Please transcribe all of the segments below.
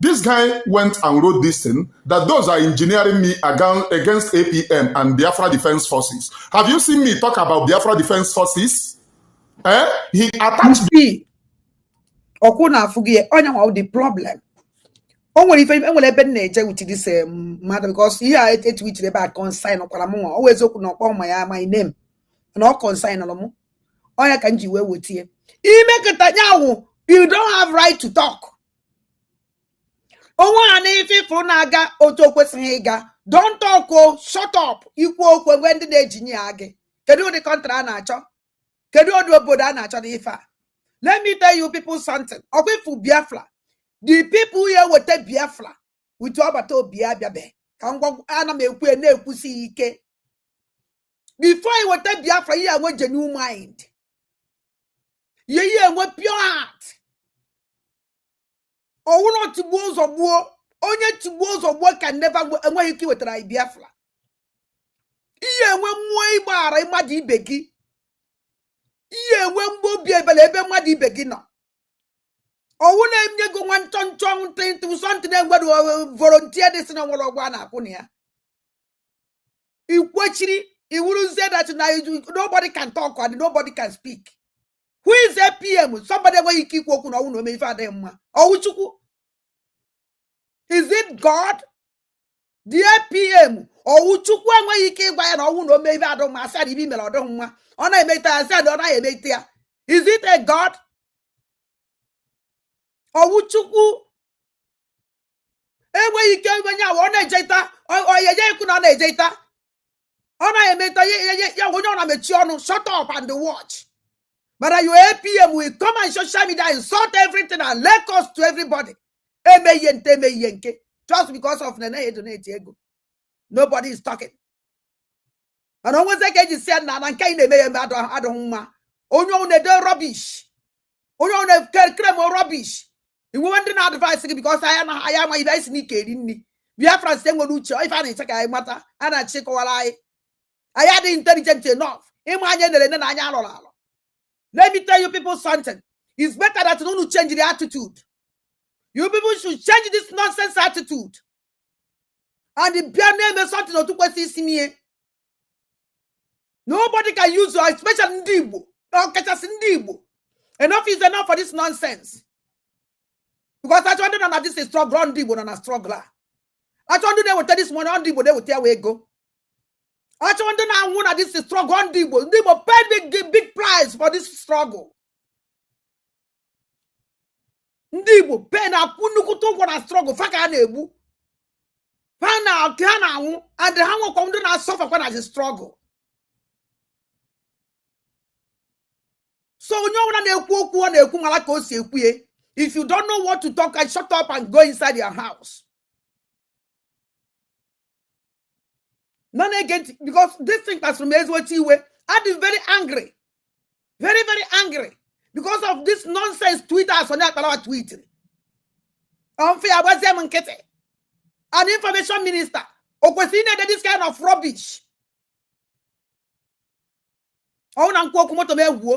This guy went and wrote this thing that DOS are engineering me against APM and Biafra Defense Forces. Have you seen me talk about Biafra Defense Forces? Eh? He attacked me. ọkwa ị na-afụ gị onye nwe the problem o nwere ife enwere ebe m na-eje with this um, mmadụ because ihe a e tweetiri ebe a concernkwara m nwa ọ wụ eziokwu na ọ kpọ m aha my name na ọ concern m ọ nya ka m ji wee wetie ime kịta nya wụ you don't have right to talk onwe ha na ife ị fụrụ na-aga otu o kwesịghị ịga don't talk o shut up i kwuo okwu e nwee ndị na-engineer gị kedu ụdị country a na-achọ kedu ụdị obodo a na-achọ n'ife a let me tell you people something ọkwa ị fụ biafra the people ya-eweta biafra utu agbata obi ya abịabeghị ka m gwa a na m ekwu ya na-ekwusi ya ike before anyị weta biafra ị ya-enwe genuine mind ị ya ị ya-enwe pure heart ọ wụrọ tigbuo zọgbuo onye tigbuo zọgbuo can never enweghị ike iwetara anyị biafra ị ya-enwe mmụọ ịgbaghara mmadụ ibe gị ị ya-enwe mmụọ obi ebele ebe mmadụ ibe gị nọ ọ wụ na e nyego nwa nchọ nchọ ntị ntị something na-enwedu volunteer dị sị na o nwere ụgwọ a na-akwụ na ya i kwechiri ị wụrụzie that na nobody can talk and nobody can speak who is APM somebody enweghị ike ikwu okwu na ọ wụ na o me ife adịghị mma ọ wụ chukwu is it god the APM ọ wụ chukwu enweghị ike ịgwa ya na ọ wụ na o me ife adụ mma a sị ife o mere adụ mma ọ na-emeta ya a sị ọ naghị emeta ya is it a god ọ wụ chukwu enweghị ike onye a wa ọ na-ejeta onye je-ekwu na ọ na-ejeta ọ na-emeta ya onye ọ na-emechi ọnụ shut up and watch mana your APM will come on social media insult everything and lay curse to everybody eme ihe nke eme ihe nke just because of na enaghị donate ego nobody is talking mana o nwezi ka e ji sị ya na na nke anyị na-eme ya eme adịghị mma onye ọwụna ede rubbish onye ọ na-ekere m rubbish i nwere ndị na-advise gị because anyị na anyị amaghị ife anyị si n'ike eri nri biafrans enwerọ uche ife a na-achọ ka anyị mata a na-achọ ịkọwara anyị anyị adịghị intelligent enough ịma anya e nere ene na anya a lọrọ alọ let me tell you people something it's better that unu change the attitude you people should change this nonsense attitude and bịa na-eme something otu o kwesịrị isi mee nobody can use you especially ndị Igbo ọkachasị ndị Igbo enough is enough for this nonsense because a chọwa ndị nọ na this struggle ọ ndị Igbo nọ na struggle a a chọwa ndị na-eweta this money ọ ndị Igbo na-eweta ya wụ ego a chọwa ndị na-anwụ na this struggle ọ ndị Igbo ndị Igbo pay big price for this struggle ndị igbo pay na-akwụ nnukwute ụgwọ na struggle fa ka a na-egbu fa na ọka ha na-anwụ and ha nwekwa ndị na-asọfakwa na the struggle so onye ọbụla na-ekwu okwu ọ na-ekwu mara ka o si ekwu ya if you don't know what to talk ị shut up and go inside your house nọ na-ege ntị because this thing kpasuru m ezigbote iwe adị m very angry very very angry because of this nonsense twitter asonye akparawa tweetiri ọmfe ya gbazie m nkịtị an information minister o kwesịrị na-ede this kind of rubbish ọnwụ na nkwu okwu moto m ewuo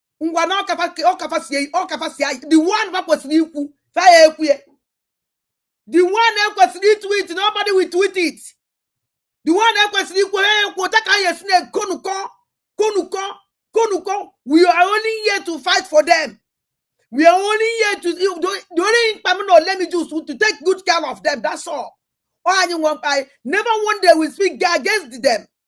ngwa na ọkafasia the one fa kwesịrị ikwu fa ya ekwu ya the one e kwesịrị itweet nobody will tweet it the one e kwesịrị ikwu ya ekwu otu ka anyị esi na-ekonukọ konukọ konukọ we are only here to fight for them we are only here to the only mkpa m na ole m just to take good care of them that's all ọ anyị nwe mkpa anyị never one day we speak against them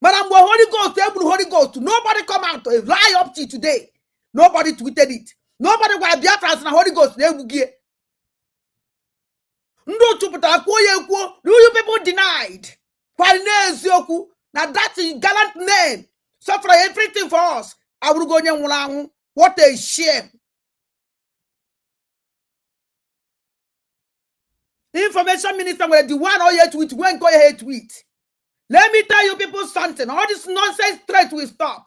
mana mgbe holy ghost e gburu holy ghost nobody come out eh, lie up till today nobody tweeted it nobody gwara biafrans na holy ghost na e gbugo ya ndị otu pụtara kwuo ya ekwuo do you people denied kwari n'eziokwu na that gallant man suffer everything for us abụrụgo onye nwụrụ anwụ what a shame information minister nwere the one oye tweet nwee nke oye tweet let me tell you people something all this nonsense threat will stop